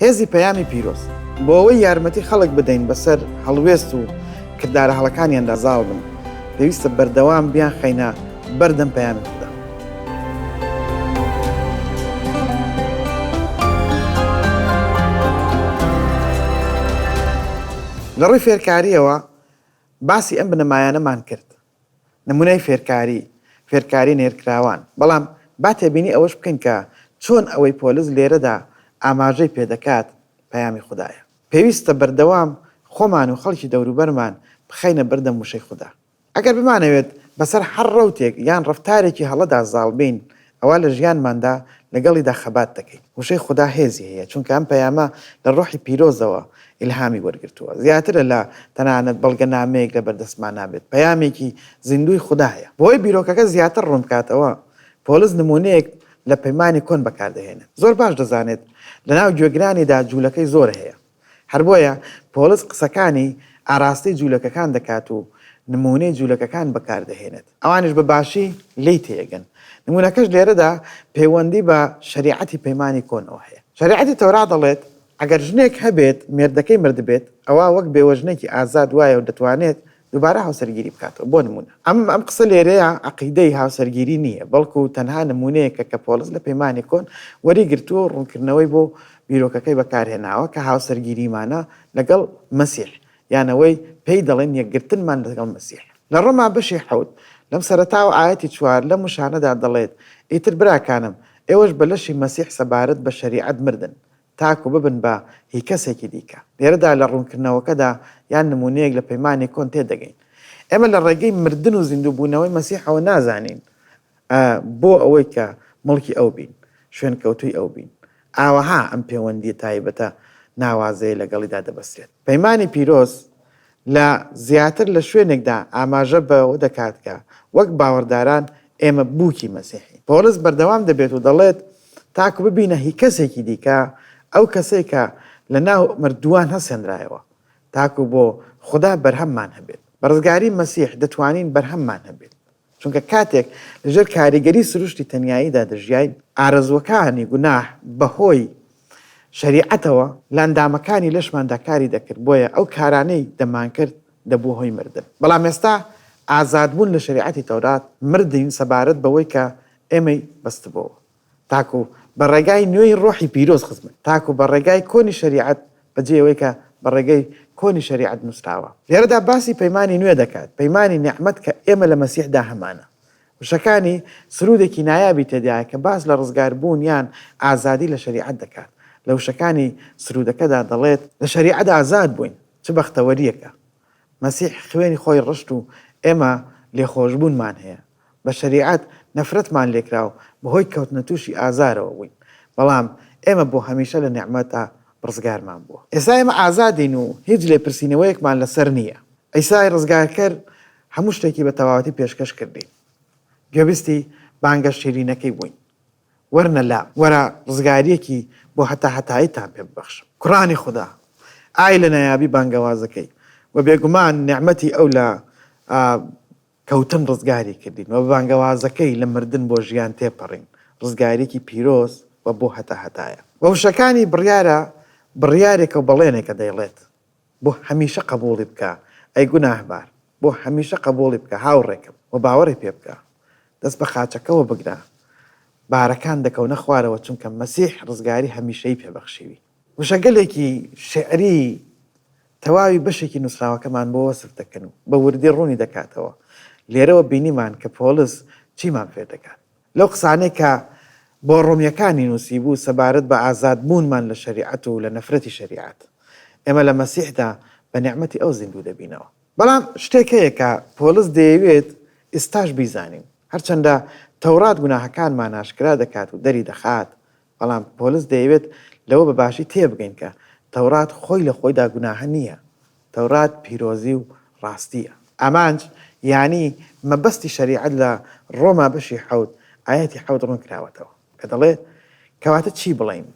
هێزی پەیامی پیرۆز بۆ ئەوەی یارمەتی خەڵک بدەین بەسەر هەڵوێست و کردارە هەڵەکانیاندا زاڵ بن پێویستە بەردەوام بیان خەینە بەردەم پەیامی خدا لە ڕووی فێرکاریەوە باسی ئەم بنەمایانەمان کرد نمونەی فێرکاری، فێرکاری نێرکراوان، بەڵام با تێبینی ئەوەش بکەین کە چۆن ئەوەی پۆلس لێرەدا ئاماژەی پێدەکات پەیامی خودایە. پێویستە بەردەوام خۆمان و خەڵکی دەوروبەرمان بخەینە بەردەم وشەی خودا. ئەگەر بمانەوێت بەسەر هەر ڕەوتێک یان ڕەفتارێکی هەڵەدا زاڵبین، ئەوا لە ژیانماندا لەگەڵیدا خەبات دەکەین. وشەی خودا هێزی هەیە، چونکە ئەم پەیامە لە ڕۆحی پیرۆزەوە ئیلهامی وەرگرتووە. زیاترە لە تەنانەت بەڵگەنامەیەک لە بەردەستمانا بێت، پەیامێکی زیندووی خودایە. بۆ ئەوەی بیرۆکەکە زیاتر ڕوون بکاتەوە، پۆلس نموونەیەک لە پەیمانی کۆن بەکار دەهێنێت. زۆر باش دەزانێت لەناو گوێگرانیدا جوولەکەی زۆر هەیە. هەر بۆیە پۆڵس قسەکانی ئاراستەی جوولەکەکان دەکات و نموونەی جوولەکەکان بەکار دەهێنێت، ئەوانیش بە باشی لێی تێیەگەن. نموونەکەش لێرەدا پەیوەندی بە شەریعەتی پەیمانی کۆنەوە هەیە. شەریعەتی تەورا دەڵێت، ئەگەر ژنێک هەبێت مێردەکەی مردبێت، ئەوا وەک بێوەژنێکی ئازاد وایە و دەتوانێت دووبارە هاوسەرگیری بکاتەوە بۆ نموونە. ئەم ئەم قسە لێرەیا عەقیدەی هاوسەرگیری نییە، بەڵکو تەنها نموونەیەکە کە پۆڵس لە پەیمانی کۆن وەری گرتووە و ڕوونکردنەوەی بۆ بیرۆکەکەی بەکار هێناوە کە هاوسەرگیریمانە لەگەڵ مەسیح، یان ئەوەی پێی دەڵێن یەکگرتنمان لەگەڵ مەسیح. لە ڕۆما بەشی حەوت، لەم سەرەتا و ئایەتی چوار لەم وشانەدا دەڵێت، ئیتر براکانم، ئێوەش بە لەشی مەسیح سەبارەت بە شەریعەت مردن، تاکو ببن بە هی کەسێکی دیکە. لێرەدا لە ڕوونکردنەوەکەدا یان نموونەیەک لە پەیمانی کۆن تێدەگەین. ئێمە لە ڕێگەی مردن و زیندووبوونەوەی مەسیحەوە نازانین بۆ ئەوەی کە مڵکی ئەو بین، شوێنکەوتووی ئەو بین. ئاوەها ئەم پێوەندییە تایبەتە ناوازەیە لەگەڵیدا دەبەسترێت. پەیمانی پیرۆز لە زیاتر لە شوێنێکدا ئاماژە بەوە دەکات کە وەک باوەڕداران ئێمە بووکی مەسیحین. پۆڵس بەردەوام دەبێت و دەڵێت، تاکو ببینە هی کەسێکی دیکە، ئەو کەسەی کە لەناو مردووان هەستێنرایەوە، تاکو بۆ خودا بەرهەممان هەبێت. بە ڕزگاریی مەسیح دەتوانین بەرهەممان هەبێت. چونکە کاتێک لەژێر کاریگەری سروشتی تەنیاییدا دەژیاین، ئارەزووەکانی گوناه بەهۆی شەریعەتەوە لە ئەندامەکانی لەشماندا کاری دەکرد، بۆیە ئەو کارانەی دەمانکرد دەبووە هۆی مردن. بەڵام ئێستا ئازادبوون لە شەریعەتی تەورات، مردین سەبارەت بەوەی کە ئێمەی بەستبۆوە. تاکو بە ڕێگای نوێی ڕۆحی پیرۆز خزمەت تاکو بە ڕێگای کۆنی شەریعەت بە جێ ئەوەی کە بە ڕێگەی کۆنی شەریعەت نووسراوە. لێرەدا باسی پەیمانی نوێ دەکات، پەیمانی نیعمەت کە ئێمە لە مەسیحدا هەمانە. وشەکانی سروودێکی نایابی تێدایە کە باس لە ڕزگار بوون یان ئازادی لە شەریعەت دەکات. لە وشەکانی سروودەکەدا دەڵێت. لە شەریعەت ئازاد بووین، چ بەختەوەرییەکە! مەسیح خوێنی خۆی ڕشت و ئێمە لێخۆشبوونمان هەیە. بە شەریعەت نەفرەتمان لێکرا و بەهۆی کەوتنە تووشی ئازارەوە بووین، بەڵام ئێمە بۆ هەمیشە لە نیعمەتە ڕزگارمان بووە. ئێستا ئێمە ئازادین و هیچ لێپرسینەوەیەکمان لەسەر نییە. عیسای ڕزگارکەر هەموو شتێکی بە تەواوەتی پێشکەش کردین. گوێبیستی بانگە شیرینەکەی بووین، وەرنە لام، وەرە ڕزگارییەکی بۆ هەتاهەتاییتان پێ ببەخشم. کوڕانی خودا، ئای لە نایابی بانگەوازەکەی و بێگومان نیعمەتی ئەو لە کەوتن ڕزگاری کردین و بە بانگەوازەکەی لە مردن بۆ ژیان تێپەڕین، ڕزگاریەکی پیرۆز و بۆ هەتا هەتایە. بە وشەکانی بڕیارە بڕیارێکە و بەڵێنێکە دەیڵێت، بۆ هەمیشە قەبووڵی بکە ئەی گوناهبار، بۆ هەمیشە قەبووڵی بکە هاوڕێکەم و باوەڕی پێ بکە، دەست بە قاچەکەوە بگرە، بارەکان دەکەونە خوارەوە چونکە مەسیح ڕزگاری هەمیشەی پێ بەخشیوین. وشەگەلێکی شیعری تەواوی بەشێکی نووسراوەکەمان بۆ وەسف دەکەن و بە وردی ڕوونی دەکاتەوە، لێرەوە بینیمان کە پۆڵس چیمان فێر دەکات لەو قسانەی کە بۆ ڕۆمییەکانی نووسیبوو سەبارەت بە ئازاد بوونمان لە شەریعەت و لە نەفرەتی شەریعەت، ئێمە لە مەسیحدا بە نیعمەتی ئەو زیندوو دەبینەوە. بەڵام شتێک هەیە کە پۆڵس دەیەوێت ئیستاش بیزانین، هەرچەندە تەوڕات گوناهەکانمان ئاشکرا دەکات و دەری دەخات، بەڵام پۆلس دەیەوێت لەوە بە باشی تێبگەین کە تەورات خۆی لە خۆیدا گوناهە نییە، تەورات پیرۆزی و ڕاستییە. ئامانج یانی مەبەستی شەریعەت لە ڕۆما بەشی حەوت ئایەتی حەوت ڕوون کراوەتەوە کە دەڵێت، کەواتە چی بڵێین؟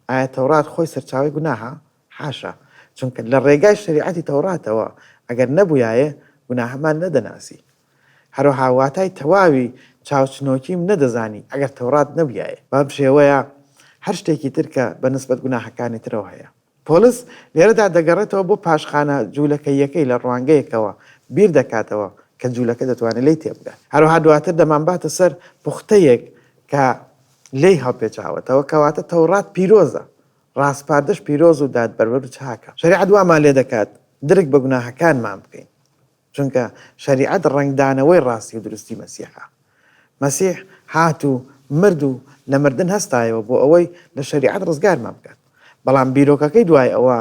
ئایا تەورات خۆی سەرچاوەی گوناهە؟ حاشا! چونکە لە ڕێگای شەریعەتی تەوراتەوە ئەگەر نەبوویایێ گوناهەمان نەدەناسی. هەروەها واتای تەواوی چاوچنۆکیم نەدەزانی ئەگەر تەورات نەبویایە، بەم شێوەیە هەر شتێکی تر کە بە نسبەت گوناهەکانی ترەوە هەیە. پۆلس لێرەدا دەگەڕێتەوە بۆ پاشخانە جوولەکەییەکەی لە ڕوانگەیەکەوە بیر دەکاتەوە کە جوولەکە دەتوانێت لێی تێبگات. هەروەها دواتر دەمانباتە سەر پوختەیەک کە لێی هەڵپێچاوەتەوە، کەواتە تەورات پیرۆزە، ڕاسپاردەش پیرۆز و دادپەروەر و چاکە. شەریعەت وامان لێدەکات درک بە گوناهەکانمان بکەین. چونکە شەریعەت ڕەنگدانەوەی ڕاستی و دروستی مەسیحە. مەسیح هات و مرد و لە مردن هەستایەوە بۆ ئەوەی لە شەریعەت ڕزگارمان بکات. بەڵام بیرۆکەکەی دوای ئەوە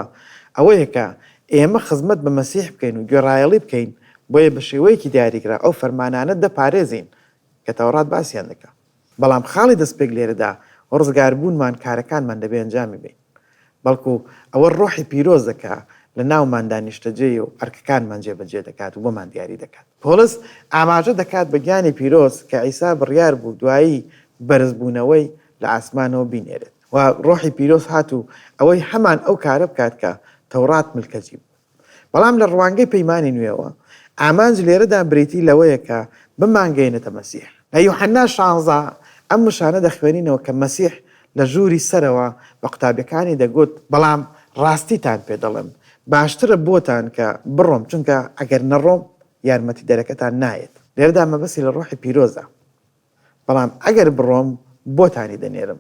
ئەوەیە کە ئێمە خزمەت بە مەسیح بکەین و گوێڕایەڵی بکەین، بۆیە بە شێوەیەکی دیاریکراو ئەو فەرمانانە دەپارێزین کە تەوڕات باسیان دەکات. بەڵام خاڵی دەستپێک لێرەدا ڕزگاربوونمان کارەکانمان دەبێ ئەنجامی بەین بەڵکو ئەوە ڕۆحی پیرۆزە کە لە ناوماندا نیشتەجێیە و ئەرکەکانمان جێبەجێ دەکات و بۆمان دیاری دەکات. پۆڵس ئاماژە دەکات بە گیانی پیرۆز کە عیسا بڕیار بوو دوایی بەرزبوونەوەی لە ئاسمانەوە بینێرێت و ڕۆحی پیرۆز هات و ئەوەی هەمان ئەو کارە بکات کە تەوڕات ملکەچی بوو. بەڵام لە ڕوانگەی پەیمانی نوێوە، ئامانج لێرەدا بریتی لەوەیە کە بمانگەینێتە مەسیح. لە یوحەنا شانزە ئەم وشانە دەخوێنینەوە کە مەسیح لە ژووری سەرەوە بە قوتابیەکانی دەگوت، بەڵام ڕاستیتان پێ دەڵێم، باشترە بۆتان کە بڕۆم، چونکە ئەگەر نەڕۆم یارمەتیدەرەکەتان نایەت. لێرەدا مەبەستی لە ڕۆحی پیرۆزە. بەڵام ئەگەر بڕۆم بۆتانی دەنێرم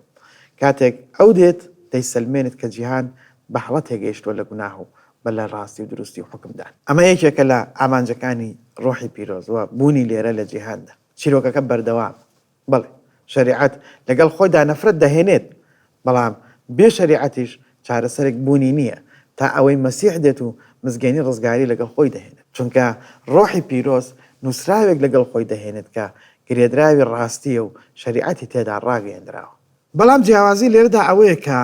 کاتێک ئەو دێت دەیسەلمێنێت کە جیهان بە هەڵە تێگەیشتووە لە گوناه و بە لە ڕاستی و دروستی و حوکمدان. ئەمە یەکێکە لە ئامانجەکانی ڕۆحی پیرۆز و بوونی لێرە لە جیهاندا. چیرۆکەکە بەردەوامە. بەڵێ، شەریعەت لەگەڵ خۆیدا نەفرەت دەهێنێت، بەڵام بێ شەریعەتیش چارەسەرێک بوونی نییە تا ئەوەی مەسیح دێت و مزگێنی ڕزگاری لەگەڵ خۆی دەهێنێت، چونکە ڕۆحی پیرۆز نووسراوێک لەگەڵ خۆی دەهێنێت کە گرێدراوی ڕاستییە و شەریعەتی تێدا ڕاگەیەندراوە. بەڵام جیاوازی لێرەدا ئەوەیە کە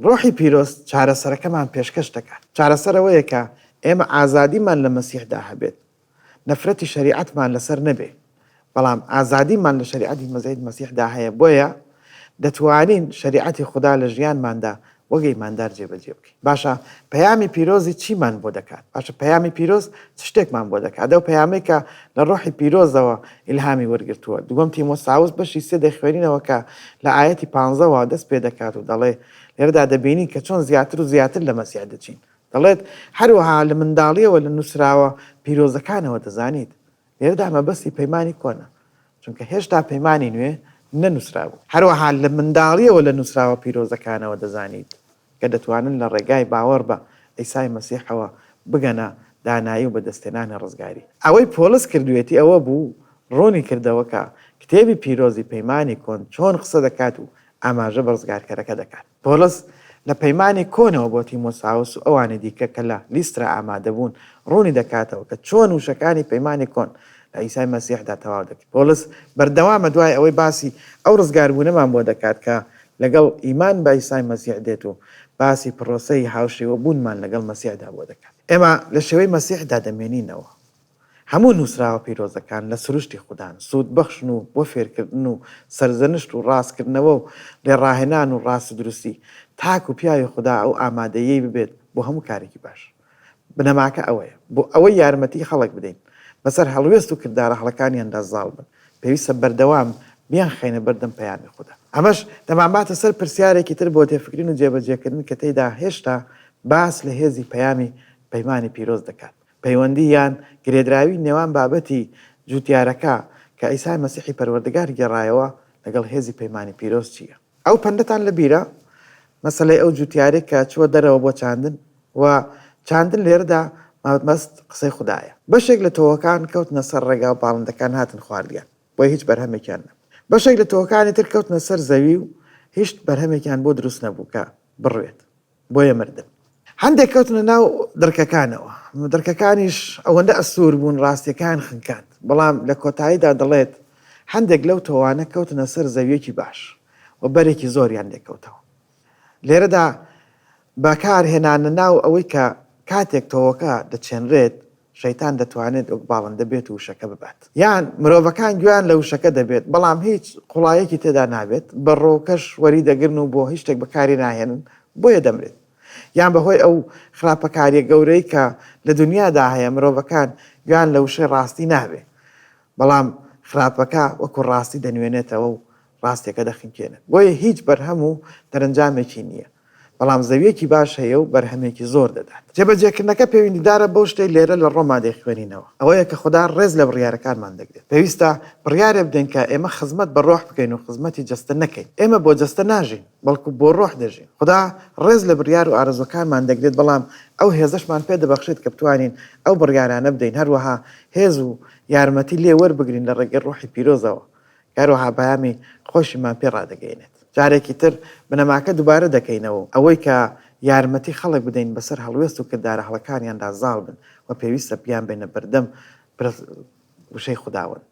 ڕۆحی پیرۆز چارەسەرەکەمان پێشکەش دەکات. چارەسەر ئەوەیە کە ئێمە ئازادیمان لە مەسیحدا هەبێت نەفرەتی شەریعەتمان لەسەر نەبێ بەڵام ئازادیمان لە شەریعەتی مەزید مەسیحدا هەیە بۆیە دەتوانین شەریعەتی خودا لە ژیانماندا وەک ئیماندار جێبەجێ بکەین باشە پەیامی پیرۆزی چیمان بۆ دەکات باشە پەیامی پیرۆز چ شتێکمان بۆ دەکات ئەو پەیامەی کە لە ڕۆحی پیرۆزەوە ئیلهامی وەرگرتووە دووەم تیمۆساوس بەشی سێ دەیخوێنینەوە کە لە ئایەتی پانزەوە دەست پێ دەکات و دەڵێ لێرەدا دەبینین کە چۆن زیاتر و زیاتر لە مەسیح دەچین دەڵێت، هەروەها لە منداڵییەوە لە نووسراوە پیرۆزەکانەوە دەزانیت. لێرەدا مەبەستی پەیمانی کۆنە، چونکە هێشتا پەیمانی نوێ نەنووسرابوو. هەروەها لە منداڵییەوە لە نووسراوە پیرۆزەکانەوە دەزانیت کە دەتوانن لە ڕێگای باوەڕ بە عیسای مەسیحەوە بگەنە دانایی و بەدەستهێنانی ڕزگاری. ئەوەی پۆڵس کردوویەتی ئەوە بوو ڕوونی کردەوە کە کتێبی پیرۆزی پەیمانی کۆن چۆن قسە دەکات و ئاماژە بە ڕزگارکەرەکە دەکات. پۆڵس لە پەیمانی کۆنەوە بۆ تیمۆساوس و ئەوانی دیکە کە لە لیسترا ئامادە بوون، ڕوونی دەکاتەوە کە چۆن وشەکانی پەیمانی کۆن لە عیسای مەسیحدا تەواو دەکرێت. پۆڵس بەردەوامە دوای ئەوەی باسی ئەو ڕزگاربوونەمان بۆ دەکات کە لەگەڵ ئیمان بە عیسای مەسیح دێت و باسی پڕۆسەی هاوشێوەبوونمان لەگەڵ مەسیحدا بۆ دەکات. ئێمە لە شێوەی مەسیحدا دەمێنینەوە. هەموو نووسراوە پیرۆزەکان لە سروشتی خودان، سوودبەخشن و بۆ فێرکردن و سەرزەنشت و ڕاستکردنەوە و لێڕاهێنان و ڕاستی دروستی، تاک و پیاوی خودا ئەو ئامادەییەی ببێت بۆ هەموو کارێکی باش. بنەماکە ئەوەیە، بۆ ئەوەی یارمەتیی خەڵک بدەین بەسەر هەڵوێست و کردارە هەڵەکانیاندا زاڵ بن، پێویستە بەردەوام بیانخەینە بەر دەم پەیامی خودا. ئەمەش دەمانباتە سەر پرسیارێکی تر بۆ تێفکرین و جێبەجێکردن کە تێیدا هێشتا باس لە هێزی پەیامی پەیمانی پیرۆز دەکات، پەیوەندی یان گرێدراوی نێوان بابەتی جووتیارەکە کە عیسای مەسیحی پەروەردگار گێڕایەوە لەگەڵ هێزی پەیمانی پیرۆز چییە؟ ئەو پەندەتان لە بیرە؟ مەسەلەی ئەو جووتیارەی کە چووە دەرەوە بۆ چاندن و چاندن لێرەدا مەبەست قسەی خودایە. بەشێک لە تۆوەکان کەوتنە سەر ڕێگا و باڵندەکان هاتن خواردیان، بۆیە هیچ بەرهەمێکیان نەبوو. بەشێک لە تۆوەکانی تر کەوتنە سەر زەوی و هیشت بەرهەمێکیان بۆ دروست نەبوو کە بڕوێت. بۆیە مردم. هەندێک کەوتنە ناو دڕکەکانەوە، دڕکەکانیش ئەوەندە ئەستوور بوون ڕاستییەکەیان خنکاند، بەڵام لە کۆتاییدا دەڵێت، هەندێک لەو تۆوانە کەوتنە سەر زەوییەکی باش و بەرێکی زۆریان لێ کەوتەوە. لێرەدا بەکارهێنانە ناو ئەوەی کە کاتێک تۆوەکە دەچێنرێت شەیتان دەتوانێت وەک باڵندە بێت و وشەکە ببات. یان مرۆڤەکان گوێیان لە وشەکە دەبێت، بەڵام هیچ قوڵایەکی تێدا نابێت، بەڕۆکەش وەریدەگرن و بۆ هیچ شتێک بەکاری ناهێنن، بۆیە دەمرێت. یان بەهۆی ئەو خراپەکارییە گەورەی کە لە دونیادا هەیە، مرۆڤەکان گوێیان لە وشەی ڕاستی نابێت، بەڵام خراپەکە وەکو ڕاستی دەنوێنێتەوە و ڕاستێکە دەخنکێنێت، بۆیە هیچ بەرهەم و دەرەنجامێکی نییە، بەڵام زەوییەکی باش هەیە و بەرهەمێکی زۆر دەدات. جێبەجێکردنەکە پێویندیدارە بەو شتەی لێرە لە ڕۆما دەیخوێنینەوە، ئەوەیە کە خودا ڕێز لە بڕیارەکانمان دەگرێت. پێویستە بڕیارێ بدەین کە ئێمە خزمەت بە ڕۆح بکەین و خزمەتی جەستە نەکەین. ئێمە بۆ جەستە ناژین، بەڵکو بۆ ڕۆح دەژین. خودا ڕێز لە بڕیار و ئارەزووەکانمان دەگرێت، بەڵام ئەو هێزەشمان پێ دەبەخشێت کە بتوانین ئەو بڕیارانە بدەین، هەروەها هێز و یارمەتی لێ وەربگرین لە ڕێگەی ڕۆحی پیرۆزەوە هەروەها پەیامی خۆشیمان پێ ڕادەگەیەنێت. جارێکی تر بنەماکە دووبارە دەکەینەوە و ئەوەی کە یارمەتی خەڵک بدەین بەسەر هەڵوێست و کردارە هەڵەکانیاندا زاڵ بن و پێویستە بیانبەینە بەردەم پرس وشەی خوداوەند.